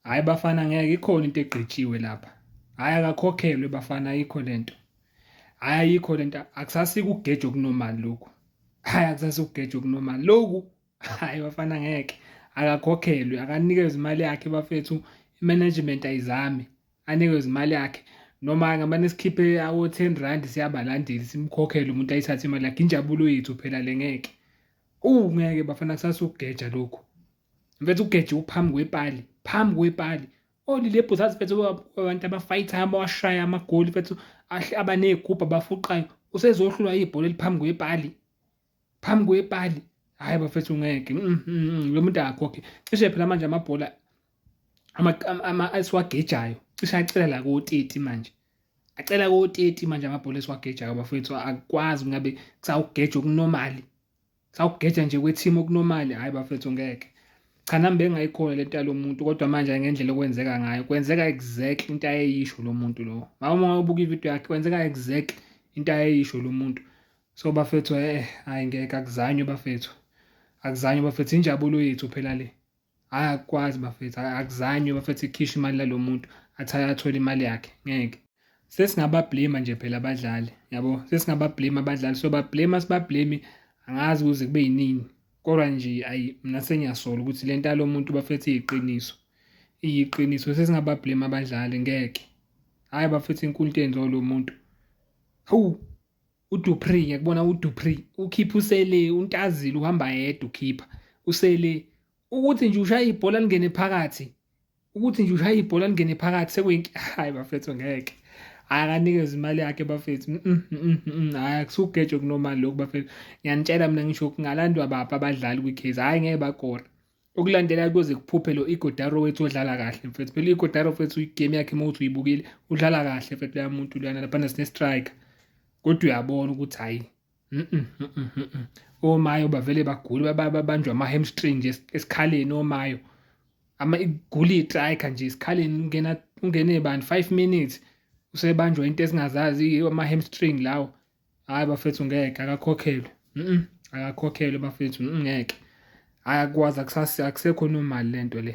Hayi bafana ngeke ikhona into egqitshiwe lapha. Hayi akakhokhelwe bafana ayikho lento. Hayi ayikho lento akusasike ugeje okunormal lokhu. Hayi akusasike ugeje okunormal lokhu. Hayi bafana ngeke akakhokhelwe akanikezwe imali yakhe bafethu management ayizame anikezwe imali yakhe noma ngamane sikhiphe awo-10 rand siyabalandeli simkhokhele umuntu ayithathe imali yakhe injabulo yethu phela le ngeke uwu ngeke bafana kusasukugeja lokhu mfethu ugeje uphambi kwepali phambi kwepali olilebhu zazi mfethu abantu abafayithayo abawashayo amagoli mfethu abaney'gubhu abafuqayo usezohlulwa ibhola eliphambi kwepali phambi kwepali hhayi bafethu ngeke mm, mm, mm, lo muntu akakhokhe cishe phela manje amabhola esiwagejayo cishe acela la koteti manje acela koteti manje amabhola esiwagejayo bafethu akwazi ngabe kusawugeja okunomali sawugeja nje kwethima okunomali hayi bafethu ngeke cha nami bengayikhona le nto yalomuntu kodwa manje ngendlela okwenzeka ngayo kwenzeka exactly into ayeyisho lo muntu lo mama ungabuka ivideo yakhe kwenzeka exactly into ayeyisho lo muntu so bafethu eh hayi ngeke akuzanywe bafethu akuzanywe bafethu injabulo yethu phela le hhayi akukwazi bafethu akuzanywe bafethu ikhishwe imali lalo muntu athi ayathole imali yakhe ngeke sesingabablema nje phela abadlali yabo sesingabablema abadlali so bablema sibablemi angazi kuze kube yinini kodwa nje ayi mina sengiyasola ukuthi le nto yalo muntu bafethu iyiqiniso iyiqiniso sesingabablema abadlali ngeke hhayi bafethu inkulu into yenziwa lo muntu hawu uDupri ngiyakubona uDupri ukhipha usele untazile uhamba yedwa ukhipha usele ukuthi nje ushaya ibhola lingene phakathi ukuthi nje ushaya ibhola lingene phakathi sekuyinki hayi bafethu ngeke akanikeza imali yakhe bafethu mm, mm, mm, hayi akusugejo kunomali lokhu bafethu ngiyanitshela mina ngisho kungalandwa baphi abadlali kwi-case hhayi ngeke bakore okulandela kuyoze kuphuphe lo igodaro wethu odlala kahle mfethu phela igodaro mfethu igame yakhe uma uthi uyibukile udlala kahle mfethu leya muntu luyana laphana sine-striker kodwa uyabona ukuthi hhayi omayo bavele bagule babanjwa ama-hamstring nje esikhaleni omayo ama igula itrika nje esikhaleni ungena ungene bani 5 minutes usebanjwa into esingazazi ama-hamstring lawo hayi bafethu ngeke akakhokhelwe mm akakhokhelwe bafethu ngeke ayakwazi akusekho normal lento le